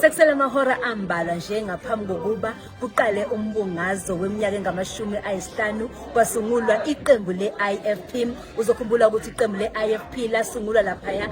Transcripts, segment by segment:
Sekusele amahora ambalwa nje ngaphambi kokuba kuqale umbungazo weminyaka engamashumi ayisihlanu kwasungulwa iqembu le-IFP. Uzokhumbula ukuthi iqembu le-IFP lasungulwa laphaya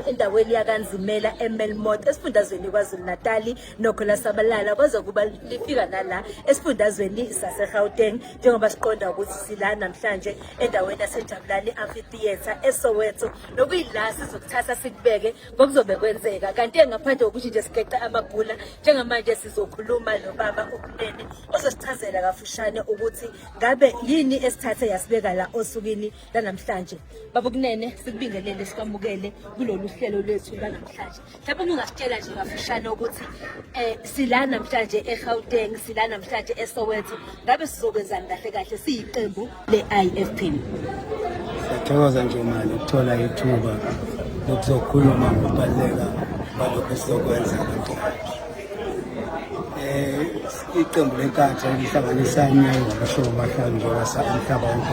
endaweni yakanzimela emelmot esifundazweni kwazulu-natali Nokho lasabalala kwazokuba lifika nala esifundazweni saseGauteng njengoba siqonda ukuthi sila namhlanje endaweni yaseJabulani Amphitheatre eSoweto nokuyila sizokuthatha sikubeke ngokuzobe kwenzeka kanti engaphandle kokuthi nje sigeqe amabhula njengamanje sizokhuluma nobaba uKunene ozosichazela kafushane ukuthi ngabe yini esithathe yasibeka la osukwini lanamhlanje. Baba uKunene sikubingelele sikwamukele kulolu hlelo lwethu lanamhlanje. mhlawumbe uma ungasitshela nje kafushane ukuthi um sila namhlanje egauteng sila namhlanje esoweto ngabe sizokwenzani kahle kahle siyiqembu le-i f p siyathokoza nje mali ukuthola ithuba lokuzokhuluma ngokubaluleka balokhu esizokwenza um iqembu lenkatha elihlanganisa imnyango ngabashoko bahlanu njengoba sa umhlaba wonke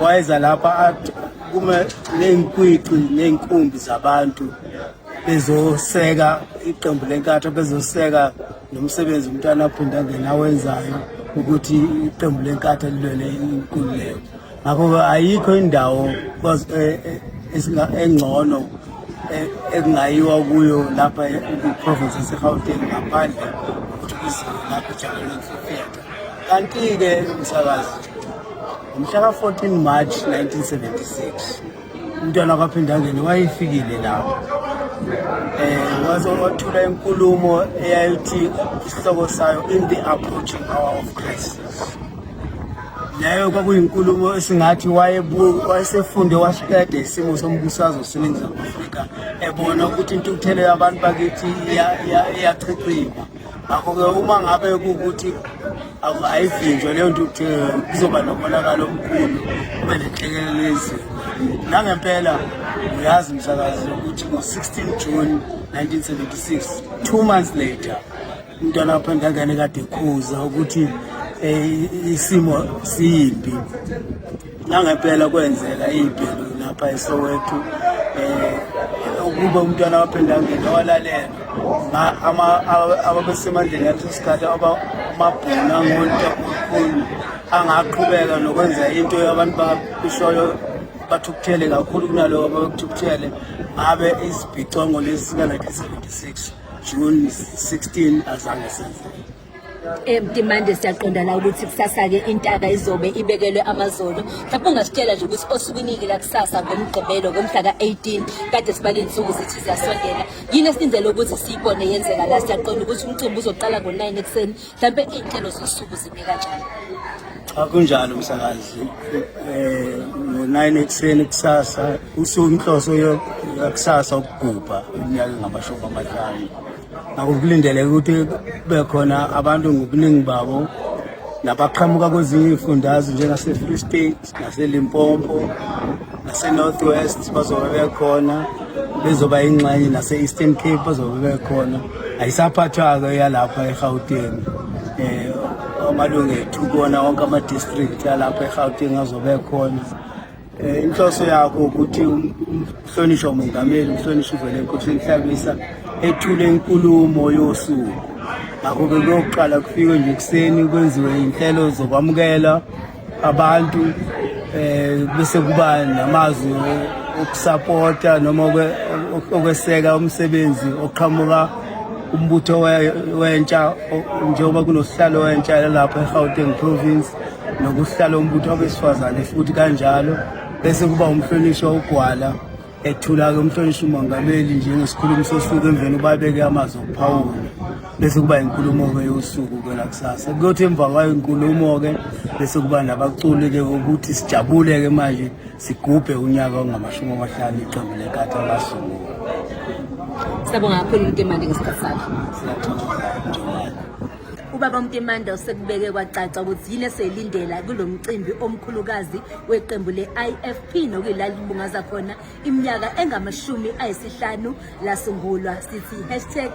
wayeza lapha kume ney'nkwici ney'nkumbi zabantu bezoseka iqembu lenkatha bezoseka nomsebenzi umntwana aphinde angena awenzayo ukuthi iqembu lenkatha lilwele inkululeko ngakho-ke ayikho indawo e, e, engcono e, ekungayiwa kuyo lapha kwi-province yasegauteng ngaphandle ukuthi kuzilapha ijabuleni kanti-ke msakazi ngomhla ka-14 march 1976 umntwana kwaphindangeni wayefikile lapho um waze wathula inkulumo eyayithi isihloko sayo in the approaching hour of crisis leyo kwakuyinkulumo esingathi wayesefunde wasiqede isimo sombusazo seningizimu afrika ebona ukuthi intukuthelo yabantu bakithi iyachichima ngakho-ke uma ngabe kuwukuthi ayivinjwe leyo nto ukuthi kuzoba nomonakalo omkhulu kube nenhlekelelo yezinto nangempela uyazi msakazi ukuthi ngo-16 june 1976 two months later umntwana wapha ngangane kade khuza ukuthi um isimo siyimbi Nangempela kwenzeka iy'bhelu lapha eSoweto um ukuba umntwana waphinde angena walalela ababesemandleni yaleso sikhathi amabhona ngonta kakhulu angaqhubeka nokwenza into abantu bakushoyo bathukuthele kakhulu kunalowo abakuthukuthele ngabe izibhicongo lezi sika-1976 june 16 azange senzeke Emtimande eh, siyaqonda la ukuthi kusasa-ke intaka izobe ibekelwe amazolo mhlawumbe ungasitshela nje ukuthi osukwiniki lakusasa ngomgqibelo ngomhla ka-18 kade sibale insuku zithi ziyasondela yini esilindele ukuthi siyibone yenzeka la siyaqonda ukuthi umcimbi uzoqala ngo-9 ekuseni mhlawumbe iy'nhlelo zosuku zime kanjani akunjalo msakazi eh ngo-9 ekuseni kusasa usuku inhloso yakusasa ukugubha iminyaka engamashumi amahlanu akukulindeleke ukuthi bekhona abantu ngobuningi babo nabaqhamuka kwezinye iy'fundazwe njengase-free state nase-limpopo nase-north west bazobe bekhona bezoba yingxenye nase-eastern cape bazobe bekhona ayisaphathwa-ke yalapha egauteng um amalungu ethu kuwona wonke ama-district alapha egauteng azobe ekhona Eh, inhloso yakho ukuthi um-, umhlonishwa umongameli umhlonishwa uvele enkosi enhlabisa ethule inkulumo yosuku ngakho-ke kuyokuqala kufikwe nje ekuseni kwenziwe iy'nhlelo zokwamukela abantu um bese kuba namazwi okusapota noma okweseka umsebenzi oqhamuka umbutho wentsha njengoba kunosihlalo wentsha lalapha e-gauteng province nokuhlala umbutho wabesifazane futhi kanjalo bese kuba umhlonishwa ugwala ethula-ke umhlonishwa umongameli njengesikhulumi sosuku emveni ubabeke amazwi okuphawula bese kuba inkulumo-ke yosuku kwelakusasa kuyothi emva kwayo inkulumo-ke bese kuba nabaculi-ke ukuthi sijabule-ke manje sigubhe unyaka ongamashumi amahlanu iqembu lekati alasungula siyabonga kakhulu into emandi ngesikhathi sakho Ubaba uMtimanda usekubeke kwacaca ukuthi yini eselindela kulo mcimbi omkhulukazi weqembu le-IFP nokuyilalimbungaza khona iminyaka engamashumi ayisihlanu lasungulwa sithi hashtag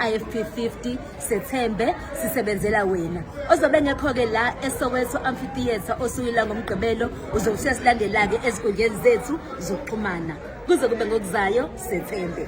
IFP 50 sethembe sisebenzela wena ozobe ngekho-ke la esoweto amphitheatre osukila ngomgqibelo uzokushiya silandela-ke ezinkundleni zethu zokuxhumana kuze kube ngokuzayo sethembe